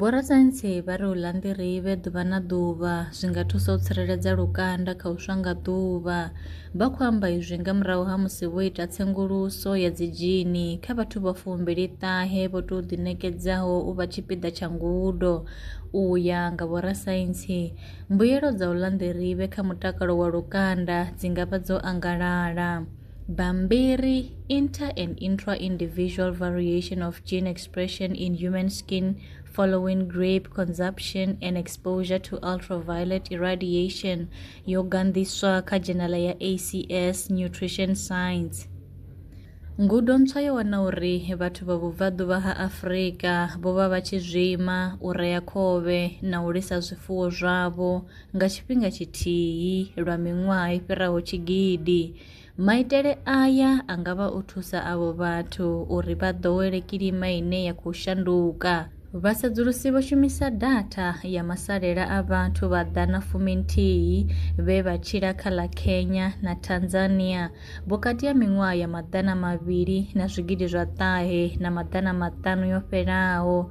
Vhorasaintsi vha ri u ḽa nḓirivhe ḓuvha na ḓuvha zwi nga thusa u tsireledza lukanda kha u swa nga ḓuvha. Vha khou amba izwi nga murahu ha musi vho ita tsenguluso ya dzidzhini kha vhathu vha fumbili-ṱahe vho tou ḓiṋekedzaho u vha tshipiḓa tsha ngudo. U ya nga vhorasaintsi, mbuyelo dza u ḽa nḓirivhe kha mutakalo wa lukanda dzi nga vha dzo angalala. Bambiri, inter and intra-individual variation of gene expression in human skin following grape consumption and exposure to ultraviolet irradiation yogandiswa ka jenala ya acs nutrition science ngudo ntswa yo wana uri vhathu vha vhubvaḓuvha ha afurika vho vha vha tshi zwima u rea khovhe na u lisa zwifuwo zwavho Nga tshifhinga tshithihi lwa miṅwaha i fhiraho tshigidi, maitele aya a nga vha o thusa avho vhathu uri vha ḓowele kilima ine ya khou shanduka. Vhasedzulusi vho shumisa datha ya masalela a vhathu vha ḓana fuminthihi vhe vha tshila kha ḽa Kenya na Tanzania vhukati ha miṅwaha ya maḓana mavhili na zwigidi zwa ṱahe na maḓana maṱanu yo fhelaho